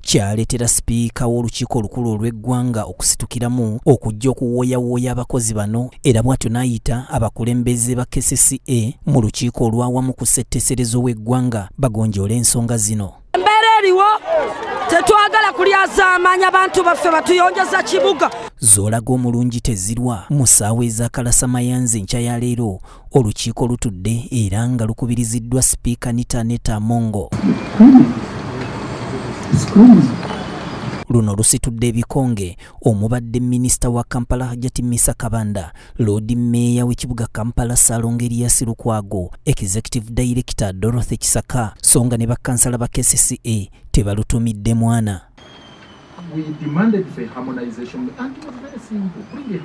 kyaleetera sipiika w'olukiiko olukulu olw'eggwanga okusitukiramu okujja okuwooyawooya abakozi bano era bw'atyo n'ayita abakulembeze ba kcca mu lukiiko olwawamu ku ssetteeserezo w'eggwanga bagonjoola ensonga zino embeera eriwo tetwagala kulyazaamaanya bantu baffe batuyonjeza kibuga zoolaga omulungi tezirwa mu ssaawa ez'akalasamayanzi enkya ya leero Olukiiko lutudde era nga lukubiriziddwa sipiika Nita Neta Mongo. Luno lusitudde ebikonge omubadde minisita wa Kampala Hajati Misa Kabanda, loodi meeya w'ekibuga Kampala Salongo Erias Lukwago, executive director Dorothy Kisaka so nga ne bakkansala ba KCCA tebalutumidde mwana.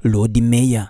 Loodi meeya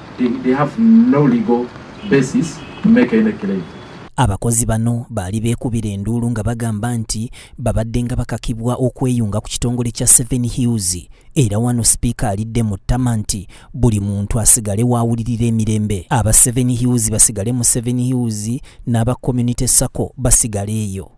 Abakozi bano baali beekubira enduulu nga bagamba nti babadde nga bakakibwa okweyunga ku kitongole kya Seven Hills era wano sipiika alidde mu ttama nti buli muntu asigale waawulirira emirembe aba Seven Hills basigale mu Seven Hills n'aba Community Sacco basigale eyo.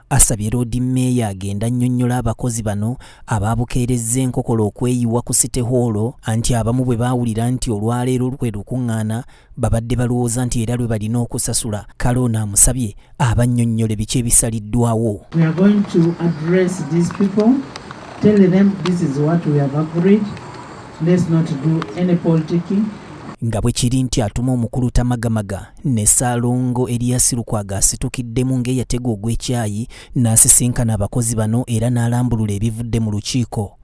asabye loodi meeya agenda annyonnyola abakozi bano abaabukeerezza enkokola okweyiwa ku site hoolo anti abamu bwe baawulira nti olwaleero lwe lukuŋŋaana babadde balowooza nti era lwe balina okusasula kale ono amusabye abannyonnyole biki ebisaliddwawo nga bwe kiri nti atuma omukulu tamagamaga ne Ssaalongo Erias Lukwago asitukiddemu ng'eyategwa ogw'ekyayi n'asisinkana abakozi bano era n'alambulula ebivudde mu lukiiko.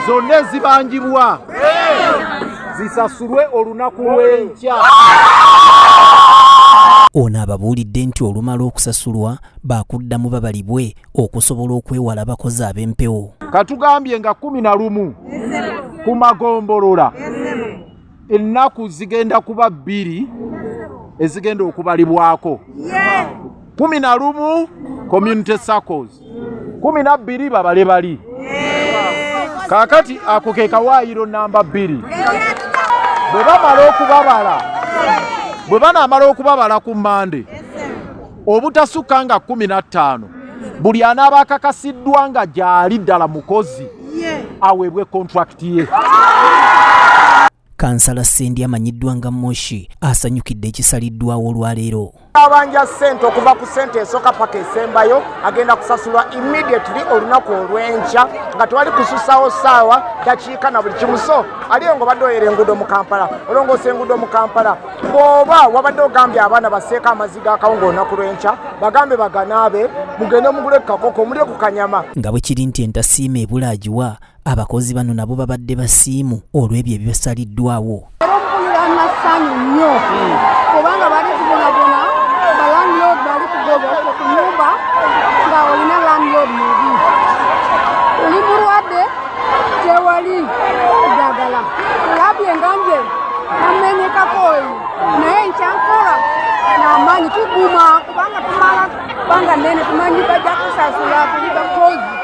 zonna ezibangibwa zisasulwe olunaku lw'enkya ono ababuulidde nti olumala okusasulwa baakuddamu babalibwe okusobola okwewala abakozi ab'empewo katugambye nga kumi na lumu ku magombolola ennaku zigenda kuba bbiri ezigenda okubalibwako kumi na lumu community circles kumi na bbiri babale bali kaakati ako ke kawaayiro namba bbiri bwe bamala okubabala bwe banaamala okubabala ku mande obutasukka nga kumi na ttaano buli anaaba akakasiddwa nga gyali ddala mukozi aweebwe kontrakiti ye Kansala Sendi amanyiddwa nga Moshi asanyukidde ekisaliddwawo olwaleero. Abanja ssente okuva ku ssente esooka paka esembayo agenda kusasulwa immediately olunaku olw'enkya nga tewali kususawo ssaawa dakiika na buli kimu so aliyo nga obadde oyera enguudo mu Kampala olongoosa enguudo mu Kampala bw'oba wabadde ogambye abaana baseeko amaziga akawunga olunaku lw'enkya bagambe baganaabe mugende mugule ku kakoko mulye ku kanyama nga bwe kiri nti entasiima ebulaagiwa Abakozi bano nabo babadde basiimu olw'ebyo ebibasaliddwawo. Mpulira amasanyu nnyo kubanga bali tubonabona balandlord bali kugobafe ku nyumba nga olina landlord mubi oli mulwadde tewali ddagala labye nga nze namenyekako oyo naye nkyankola n'amaanyi tuguma kubanga tumala Banga nene tumanyi bajja kusasula kuliba kozi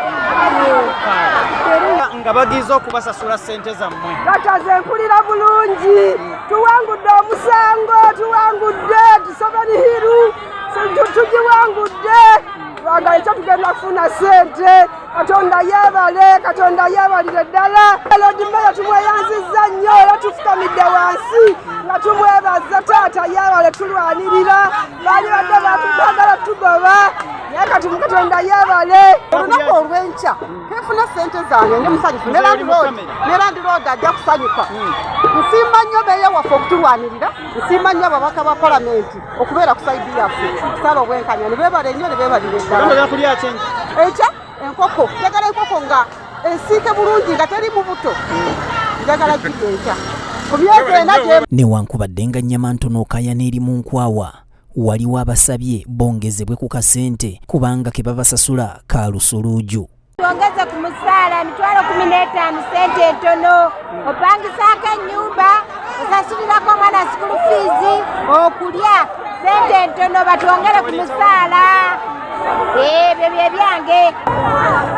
nga bagize okubasasula sente zammwe kataze mpulira bulungi tuwangudde omusango tuwangudde tusabani hiru tugiwangudde lwaga ekyo tugenda kufuna sente katonda yebale katonda yebalire ddala lodimere tumweyanziza nnyo era tufukamidde wansi nga tumwebaza taata yebale tulwanirira baali badde batugagala tugoba naye kati mukatonda yebale olunaku olwenkya kefuna sente zange ndi musanyufu ne landiroodi ajja kusanyuka hmm. nsimba nnyo beeya waffe okutulwanirira nsimba nnyo ababaka ba palamenti okubeera ku saidi yaffe kusala obwenkanya ne beebale nnyo ne beebalire ddala ekya enkoko njagala enkoko nga ensiike bulungi nga teri mubuto njagala gido enkya newankubadde nga nnyama ntono okayana eri mu nkwawa waliwo abasabye bongezebwe ku kasente kubanga ke babasasula ka lusuluuju twongeze ku musaala emitwalo kumi n'etaano sente entono opangisaako ennyumba osasulirako omwana sikulu fiizi okulya sente entono batwongere ku musaala ebyo bye byange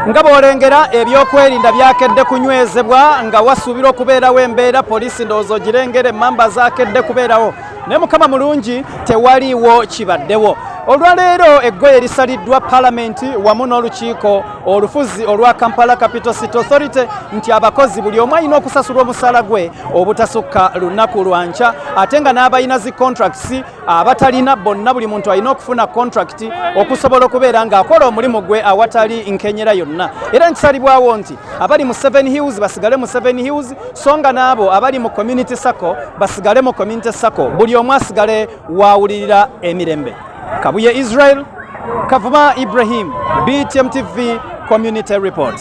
nga bw'olengera ebyokwerinda byakedde kunywezebwa nga wasuubirwa okubeerawo embeera poliisi ndowooza ogirengera emmamba zaakedde kubeerawo naye mukama mulungi tewaliiwo kibaddewo olwaleero eggoye lisaliddwa palamenti wamu n'olukiiko olufuzi olwa Kampala Capital City Authority nti abakozi buli omu alina okusasulwa omusaala gwe obutasukka lunaku lwa nkya ate nga n'abalina zi contracts abatalina bonna buli muntu alina okufuna contract okusobola okubeera ng'akola omulimu gwe awatali nkenyera yonna era nkisalibwawo nti abali mu Seven Hills basigale mu Seven Hills so nga n'abo abali mu Community Sacco basigale mu Community Sacco buli omu asigale waawulirira emirembe kabuye israel kavuma ibrahim btm tv community report